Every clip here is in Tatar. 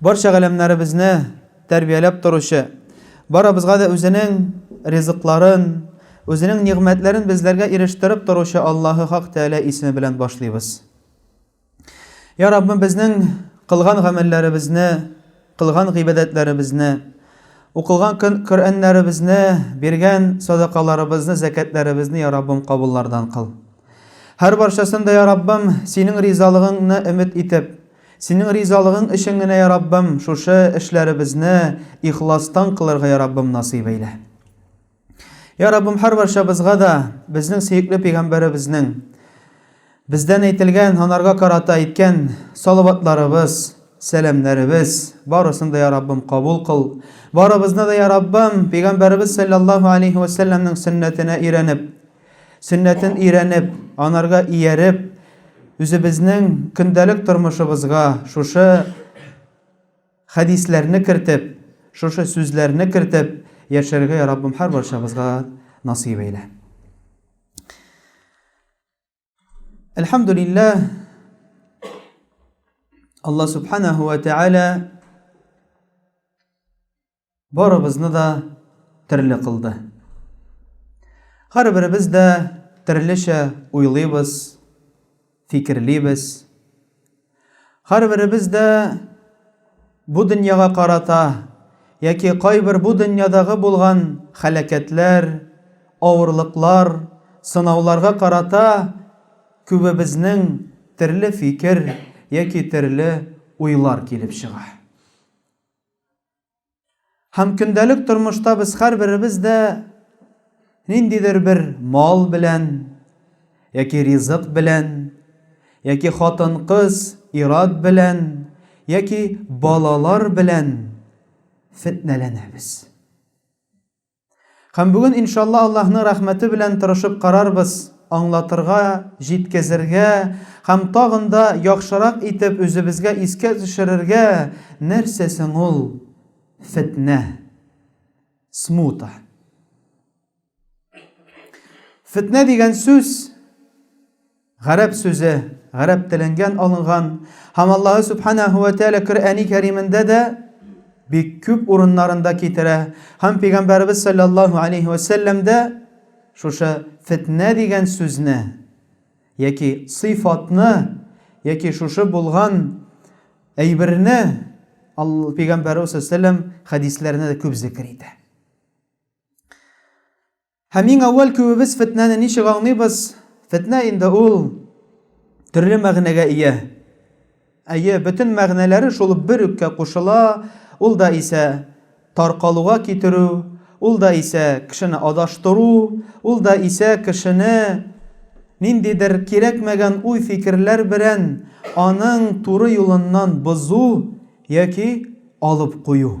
Барча галәмнәребезне тәрбияләп торучы, барыбызга да үзенең ризыкларын, үзенең нигъмәтләрен безләргә ирештереп торучы Аллаһы Хак Тәгалә исеме белән башлыйбыз. Я Раббым, безнең кылган гамәлләребезне, кылган гыйбадәтләребезне, укылган Коръәннәребезне, биргән садакаларыбызны, зәкятләребезне, я Раббым, кабуллардан кыл. Һәр барчасын да, я Раббым, синең ризалыгыңны өмет итеп, Синең ризалыгың өчен генә, я Раббым, шушы эшләребезне ихластан кылырга, я Раббым, насыйп әйлә. Я Раббым, һәрбарчабызга да безнең сөекле пәйгамбәребезнең бездән әйтелгән, анарга карата әйткән салаватларыбыз, сәламнәребез барысын да, я Раббым, кабул кыл. Барыбызны да, я Раббым, пәйгамбәребез саллаллаһу алейһи ва сәлләмнең сөннәтенә өйрәнеп, Сөннәтен өйрәнеп, анарга ияреп, үзебезнең көндәлек тормышыбызга шушы хәдисләрне кертеп, шушы сүзләрне кертеп яшәргә, я Раббым, һәрбарчабызга насыйп әйлә. Әлхәмдулиллә, Алла Субханаху ва Тәгалә барыбызны да төрле кылды. Һәрберебез дә төрлечә уйлыйбыз, фикерлибез. Һәрберебез дә бу дөньяга карата яки кайбер бу дөньядагы булган хәләкәтләр, авырлыклар, сынауларга карата күбебезнең төрле фикер яки төрле уйлар килеп чыга. Һәм көндәлек тормышта без һәрберебез дә ниндидер бер мал белән, яки ризык белән, яки хатын-кыз, ират белән, яки балалар белән фетнәләнәбез. Һәм бүген, иншалла, Аллаһның рәхмәте белән тырышып карарбыз, аңлатырга, җиткезергә һәм тагын да яхшырак итеп үзебезгә искә төшерергә, нәрсә соң ул фетнә, смута. Фетнә дигән сүз, Гарәп сүзе, гарәп теленгән алынган, һәм Аллаһы Сүбхәнәһү вә Тәгалә Коръәни Кәримендә дә бик күп урыннарында китерә, һәм Пәйгамбәребез салләллаһу алейһи вә сәлләм дә шушы фетнә дигән сүзне яки сыйфатны яки шушы булган әйберне Алла Пәйгамбәребез салләллаһу алейһи вә сәлләм хәдисләренә дә күп зикер итә. Һәм иң әүвәл күбебез фетнәне ничек аңлыйбыз? Фетнә инде ул төрле мәгънәгә ия. Әйе, бөтен мәгънәләре шул бер үккә кушыла, ул да исә таркалуга китерү, ул да исә кешене адаштыру, ул да исә кешене ниндидер кирәкмәгән уй-фикерләр белән аның туры юлыннан бозу яки алып кую.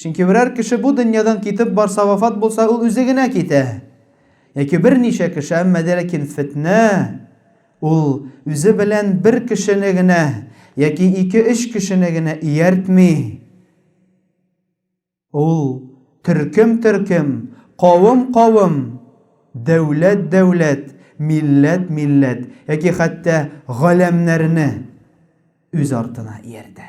Чөнки берәр кеше бу дөньядан китеп барса, вафат булса, ул үзе генә китә. Яки берничә кеше, әмма дә ләкин фетнә ул үзе белән бер кешене генә яки ике-өч кешене генә ияртми. Ул төркем-төркем, кавым-кавым, дәүләт-дәүләт, милләт-милләт яки хәтта галәмнәрне үз артына ияртә.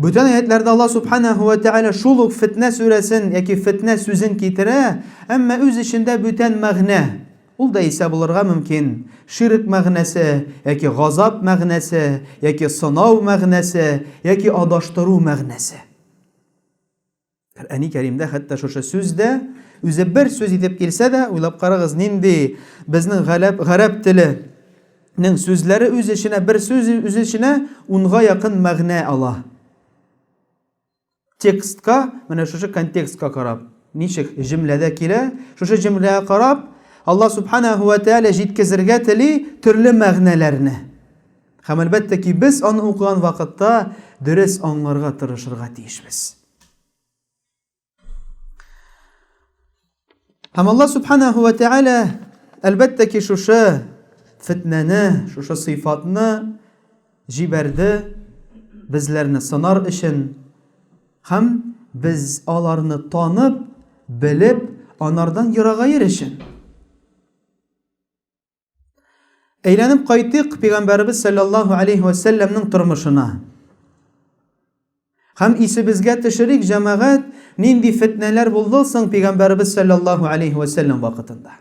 Бүтән аятларда Аллаһ субханаһу ва тааля шул ук фитнә сүрәсен яки фитнә сүзен китерә, әмма үз эчендә бүтән мәгънә. Ул да исә булырга мөмкин, ширк мәгънәсе, яки газап мәгънәсе, яки сынау мәгънәсе, яки адаштыру мәгънәсе. Коръәни Кәримдә хәтта шушы сүз дә үзе бер сүз итеп килсә дә, уйлап карагыз, нинди безнең галәп гарәп теленең сүзләре үз эченә бер сүз үз эченә унга якын мәгънә ала. Текстка, менә шушы контекстка карап, ничек җөмләдә килә, шушы җөмләгә карап, Алла субханаһу ва тааля җиткезергә тели төрле мәгънәләрне. Һәм әлбәттә ки, без аны укыган вакытта дөрес аңларга тырышырга тиешбез. Һәм Алла Субханаһу ва Тәгалә әлбәттә ки шушы фетнәне, шушы сыйфатны җибәрде безләрне сынар өчен һәм без аларны танып, белеп, анардан ерагайыр өчен. Әйләнеп кайтыйк пәйгамбәребез саллаллаһу алейхи ва сәлләмнең тормышына. Һәм исебезгә төшерик, җәмәгать, нинди фетнәләр булды соң пәйгамбәребез саллаллаһу алейхи ва сәлләм вакытында.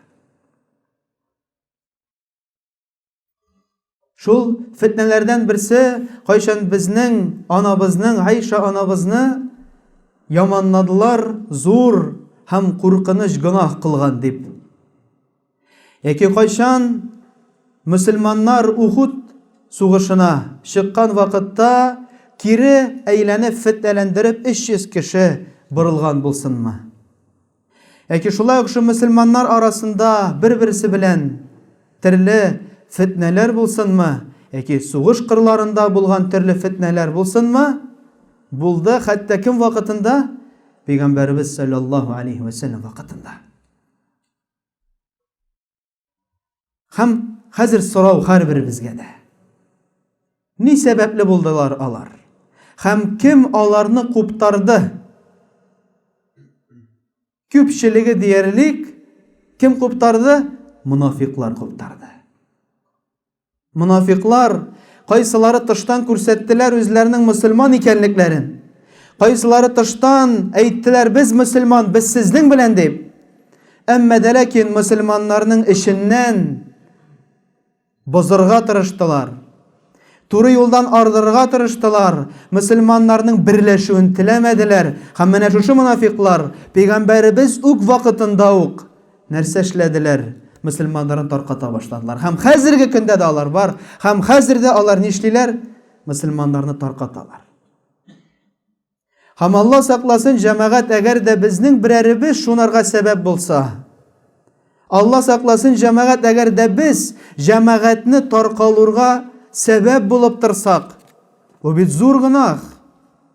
Шул фетнәләрдән берсе, кайчан безнең анабызның, Айша анабызны яманладылар, зур һәм куркыныч гөнаһ кылган дип. Яки кайчан мөселманнар Ухуд сугышына чыккан вакытта кире әйләнеп фетнәләндереп 300 кеше борылган булсынмы? Яки шулай ук шул мөселманнар арасында бер-берсе белән төрле фетнәләр булсынмы? Яки сугыш кырларында булган төрле фетнәләр булсынмы? Булды, хәтта кем вакытында? Пәйгамбәребез саллаллаһу алейһи ва саллям вакытында. Һәм хәзер сорау һәрберебезгә дә. Ни сәбәпле булдылар алар? Һәм кем аларны куптарды? Күпчелеге диярлек кем куптарды? Монафиклар куптарды. Монафиклар кайсылары тыштан күрсәттеләр үзләренең мөселман икәнлекләрен. Кайсылары тыштан әйттеләр, без мөселман, без сезнең белән дип. Әмма дә ләкин мөселманнарның эченнән бозырга тырыштылар. Туры юлдан ардырырга тырыштылар, мөселманнарның берләшүен теләмәделәр. Һәм менә шушы монафиклар пәйгамбәребез үк вакытында ук Нәрсә эшләделәр? Мөселманнарын тарката башладылар. Һәм хәзерге көндә дә алар бар. Һәм хәзер дә алар нишлиләр? Мөселманнарны таркаталар. Һәм Алла сакласын, җәмәгать, әгәр дә безнең берәребез шунарга сәбәп булса, Алла сакласын, җәмәгать, әгәр дә без җәмәгатьне таркалурга сәбәп булып торсак, бу бит зур гынах.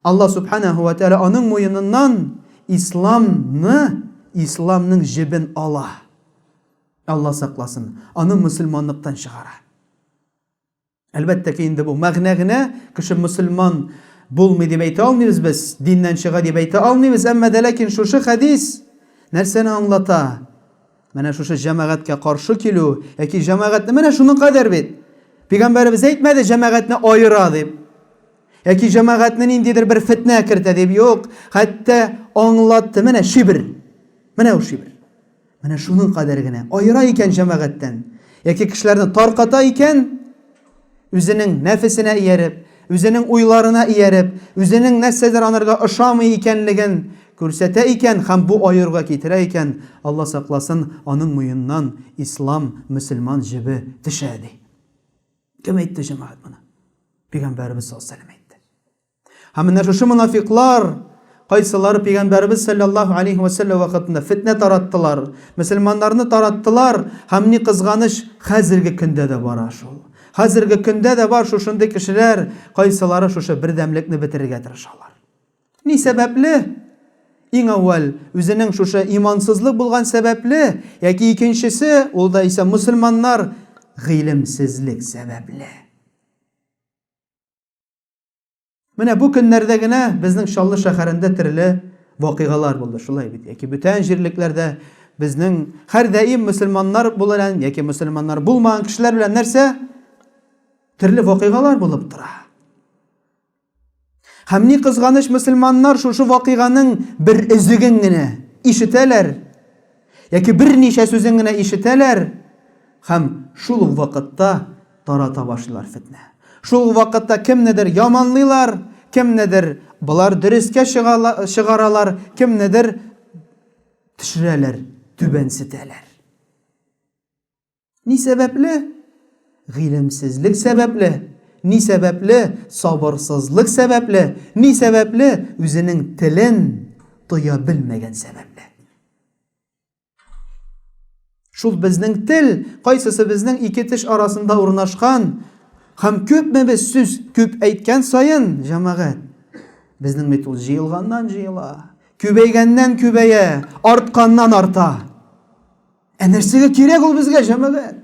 Аллаһ Сүбхәнәһү вә Тәгалә аның муеныннан Исламны, Исламның җебен ала. Аллаһ сакласын, аны мөселманлыктан чыгара. Әлбәттә ки, инде бу мәгънә генә, кеше мөселман булмый дип әйтә алмыйбыз без, диннән чыга дип әйтә алмыйбыз, әмма дә ләкин шушы хәдис нәрсәне аңлата? Менә шушы җәмәгатькә каршы килү, яки җәмәгатьне, менә шуның кадәр бит! Пигамбәребез әйтмәде, җәмәгатьне аера дип. Яки җәмәгатьне ниндидер бер фетнә кертә дип юк, хәтта аңлатты менә шибр. Менә ул шибр. Менә шуның кадәр генә аера икән җәмәгатьтән. Яки кешеләрне тарката икән, үзенең нәфесенә ияреп, үзенең уйларына ияреп, үзенең нәрсәдер анарга ошамый икәнлеген күрсәтә икән һәм бу аеруга китерә икән, Алла сакласын, аның муеннан ислам, мөселман җебе төшә, ди. Кем әйтте, җәмәгать, моны? Пигамбәребез саллаллаһу алейһи әйтте. Һәм менә шушы мунафиклар кайсылары пигамбәребез саллаллаһу алейһи ва сәлләм вакытында фитнә тараттылар, мөселманнарны тараттылар һәм ни кызганыч, хәзерге көндә дә бара шул. Хәзерге көндә дә бар шушындый кешеләр, кайсылары шушы бердәмлекне бетерергә тырышалар. Ни сәбәпле? Иң әүвәл, үзенең шушы имансызлык булган сәбәпле, яки икенчесе, ул да исә мөселманнар гыйлемсезлек сәбәпле. Менә бу көннәрдә генә безнең Чаллы шәһәрендә төрле вакыйгалар булды, шулай бит, яки бүтән җирлекләрдә безнең һәрдаим мөселманнар буларан яки мөселманнар булмаган кешеләр белән нәрсә? Төрле вакыйгалар булып тора. Һәм ни кызганыч, мөселманнар шушы вакыйганың бер өзеген генә ишетәләр яки берничә сүзен генә ишетәләр һәм шул ук вакытта тарата башлыйлар фетнә. Шул ук вакытта кемнедер яманлыйлар, кемнедер болар дөрескә чыгаралар, кемнедер төшерәләр, түбәнсетәләр. Ни сәбәпле? Гыйлемсезлек сәбәпле. Ни сәбәпле? Сабырсызлык сәбәпле. Ни сәбәпле? Үзенең телен тоя белмәгән сәбәпле. Шул безнең тел, кайсысы безнең ике теш арасында урнашкан, һәм күпме без сүз күп әйткән саен, җәмәгать, безнең бит ул җыелганнан җыела, күбәйгәннән күбәя, артканнан арта. Ә нәрсәгә кирәк ул безгә, җәмәгать?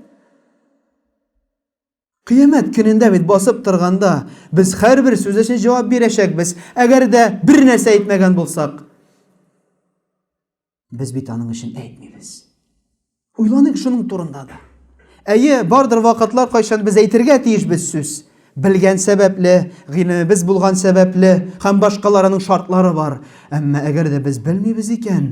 Кыямәт көнендә бит басып торганда, без һәрбер сүз өчен җавап бирәчәкбез. Әгәр дә бер нәрсә әйтмәгән булсак, без бит аның өчен әйтмибез. Уйланыйк шуның турында да. Әйе, бардыр вакытлар, кайчан без әйтергә тиешбез сүз. Белгән сәбәпле, гыйлемебез булган сәбәпле һәм башкаларының шартлары бар. Әмма әгәр дә без белмибез икән,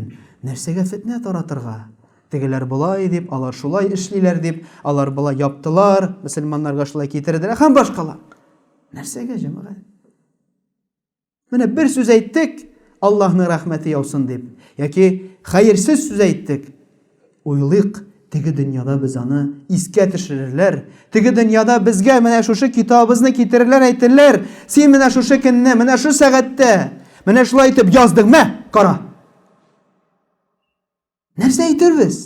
нәрсәгә фетнә таратырга? Тегеләр болай дип, алар шулай эшлиләр дип, алар болай яптылар, мөселманнарга шулай китерделәр һәм башкалар. Нәрсәгә, җәмәгать? Менә бер сүз әйттек, Аллаһның рәхмәте яусын дип, яки хәерсез сүз әйттек. Уйлыйк, теге дөньяда без аны искә төшерерләр. Теге дөньяда безгә менә шушы китабыбызны китерерләр, әйтерләр, син менә шушы көнне, менә шушы сәгатьтә, менә шулай итеп яздың, мә, кара. Нәрсә әйтербез?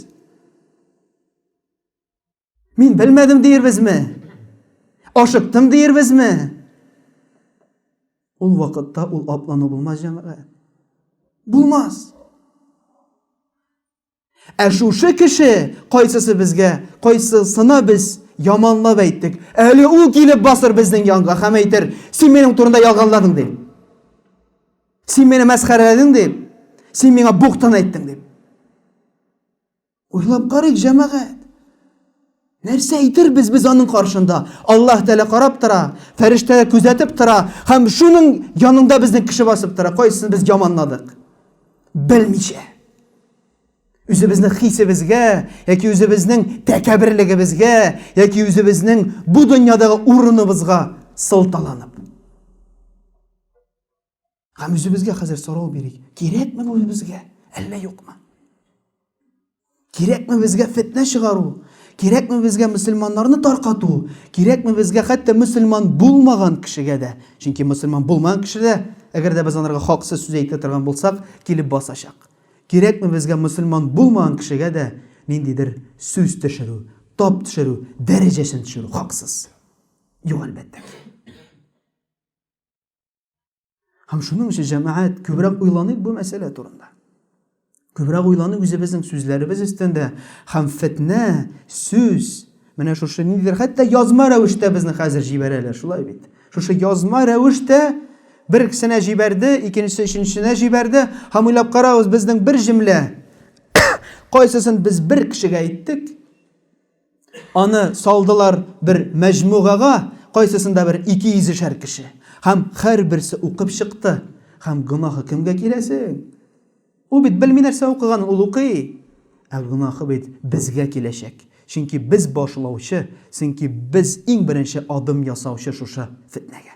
Мин белмәдем диербезме? Ашыктым диербезме? Ул вакытта ул аплану булмас, җәмәгать. Булмас. Ә шушы кеше кайсысы безгә, кайсысына без яманлап әйттек. Әле ул килеп басыр безнең янга һәм әйтер, син минем турында ялганладың дип. Син мине мәсхәрәләдең дип. Син миңа бухтан әйттең дип. Уйлап карыйк, җәмәгать. Нәрсә әйтербез без аның каршында? Аллаһ Тәгалә карап тора, фәрештәләр күзәтеп тора һәм шуның янында безне кеше басып тора. Кайсысын без яманладык? Белмичә. Үзебезнең хисебезгә яки үзебезнең тәкәберлегебезгә яки үзебезнең бу дөньядагы урыныбызга сылталанып. Һәм үзебезгә хәзер сорау бирик. Кирәкме бу үзебезгә? Әллә юкмы? Кирәкме безгә фетнә чыгару? Кирәкме безгә мусульманнарны таркату? Кирәкме безгә хәтта мусульман булмаган кешегә дә? Чөнки мусульман булмаган кеше дә, әгәр дә без анарга хаксыз сүз әйтә торган булсак, килеп басачак. Кирәкме безгә мусульман булмаган кешегә дә ниндидер сүз төшерү, тап төшерү, дәрәҗәсен төшерү хаксыз? Юк, әлбәттә. Һәм шуның өчен җәмәгать күбрәк уйланыйк бу мәсьәлә турында. Күбрәк уйланыйк үзебезнең сүзләребез өстендә һәм фетнә, сүз, менә шушы ниндидер хәтта язма рәвештә безне хәзер җибәрәләр, шулай бит. Шушы язма рәвештә бер кешенә җибәрде, икенчесе өченчесенә җибәрде һәм уйлап карагыз, безнең бер җөмлә кайсысын без бер кешегә әйттек, Аны салдылар бер мәҗмугага, кайсысында бер ике йөзешәр кеше. Һәм һәрберсе укып чыкты. Һәм гөнаһы кемгә килә соң? Ул бит белми нәрсә укыганын ул укый. Ә гөнаһы бит безгә киләчәк. Чөнки без башлаучы, чөнки без иң беренче адым ясаучы шушы фетнәгә.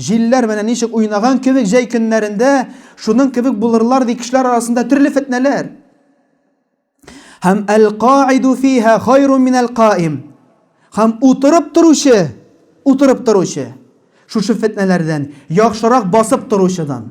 Җилләр менә ничек уйнаган кебек җәй көннәрендә, шуның кебек булырлар, ди кешеләр арасында төрле фетнәләр. Һәм әл-каиду фиһа хайрун мин әл-каим. Һәм утырып торучы, утырып торучы, шушы фетнәләрдән, яхшырак басып торучыдан.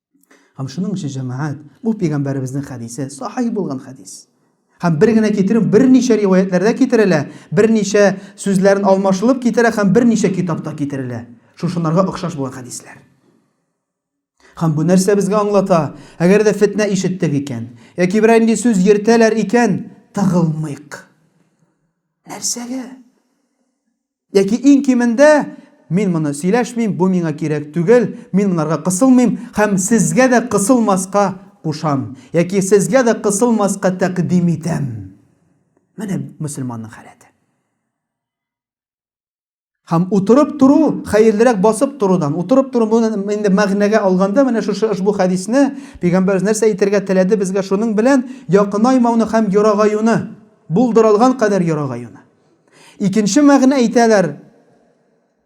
Һәм шуның өчен җәмәгать, бу пәйгамбәребезнең хәдисе, сахих булган хәдис. Һәм бер генә китерү берничә риваятләрдә китерелә, берничә сүзләрен алмашылып китерә һәм берничә китапта китерелә. Шушынарга охшаш булган хәдисләр. Һәм бу нәрсә безгә аңлата? Әгәр дә фетнә ишеттек икән, яки берәр инде сүз йөртәләр икән, тыгылмыйк. Нәрсәгә? Яки иң кимендә, Мин моны сөйләшмим, бу миңа кирәк түгел, мин монарга кысылмыйм һәм сезгә дә кысылмаска кушам, яки сезгә дә кысылмаска тәкъдим итәм. Менә мөселманның халәте. Һәм утырып тору, хәерлерәк басып торудан. Утырып тору моны инде мәгънәгә алганда, менә шушы ошбу хәдисне пәйгамбәрбез нәрсә әйтергә теләде безгә шуның белән якынаймауны һәм ерагаюны, булдырылган кадәр ерагаюны. Икенче мәгънә әйтәләр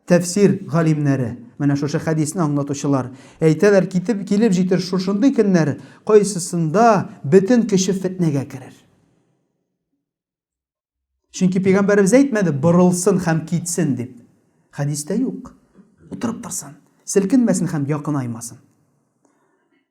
тәфсир галимнәре. Менә шушы хәдисне аңлатучылар әйтәләр, китеп килеп җитер шушындый көннәр, кайсысында бөтен кеше фетнәгә керер. Чөнки пәйгамбәребез әйтмәде, борылсын һәм китсен дип. Хәдистә юк. Утырып торсын, селкенмәсен һәм якынаймасын.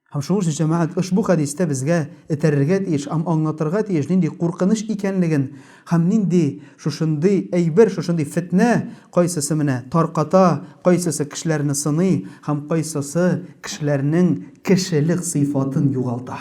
Һәм шуның өчен җәмәгать ошбу хәдистә безгә этәрергә тиеш һәм аңлатырга тиеш, нинди куркыныч икәнлеген һәм нинди шушындый әйбер, шушындый фетнә кайсысы менә тарката, кайсысы кешеләрне сыный һәм кайсысы кешеләрнең кешелек сыйфатын югалта.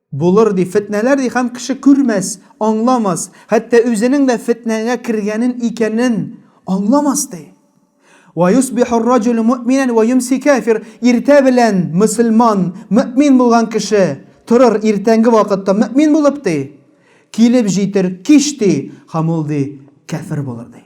Булыр, ди, фетнәләр, ди, һәм кеше күрмәс, аңламас, хәтта үзенең дә фетнәгә кергәнен, икәнен аңламас, ди. Вә юсбихур раҗулю мөэминән вә йомси кафир, иртә белән мөселман, мөэмин булган кеше, торыр иртәнге вакытта мөэмин булып, ди, килеп җитер кич, ди, һәм ул, ди, кафир булыр, ди.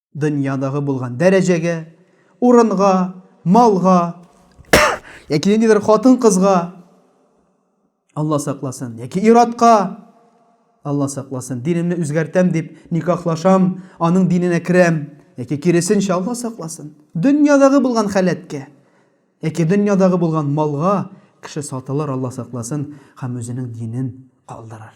дөньядагы булган дәрәҗәгә, урынга, малга, яки ниндидер хатын-кызга, Алла сакласын, яки иратка, Алла сакласын, динемне үзгәртәм дип никахлашам, аның диненә керәм, яки киресенчә Алла сакласын. Дөньядагы булган халәткә, яки дөньядагы булган малга кеше сатылыр, Алла сакласын, һәм үзенең динен калдырыр.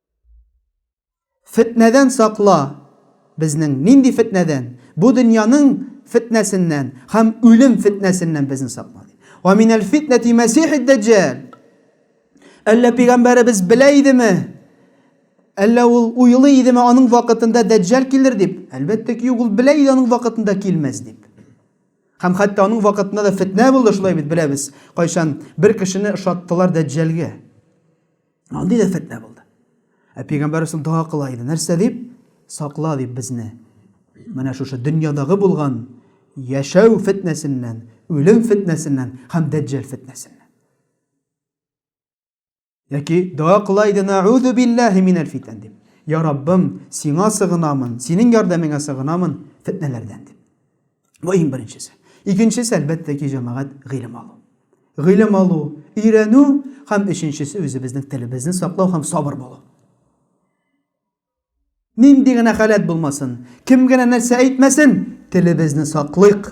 Фетнәдән сакла. Безнең нинди фетнәдән? Бу дөньяның фетнәсеннән һәм үлем фетнәсеннән безне сакла. Ва минәл фитнәти мәсихид даҗҗал. Әллә пигамбәребез белә идеме? Әллә ул уйлый идеме аның вакытында даҗҗал килер дип? Әлбәттә ки, ул белә иде аның вакытында килмәс дип. Һәм хәтта аның вакытында да фетнә булды, шулай бит беләбез. Кайчан бер кешене ошаттылар даҗҗалгә. Андый да фетнә булды. Ә пәйгамбәрбез дога кыла иде. Нәрсә дип? Сакла дип безне. Менә шушы дөньядагы булган яшәү фетнәсеннән, үлем фетнәсеннән һәм дәҗҗәл фетнәсеннән. Яки дога кыла иде, наузу биллаһи минәл фитән дип. Я Раббым, сиңа сыгынамын, синең ярдәмеңә сыгынамын фетнәләрдән дип. Бу иң беренчесе. Икенчесе, әлбәттә ки, җәмәгать гыйлем алу. Гыйлем алу, өйрәнү һәм өченчесе үзебезнең телебезне саклау һәм сабыр булу. Нинди генә халәт булмасын, кем генә нәрсә әйтмәсен, телебезне саклыйк.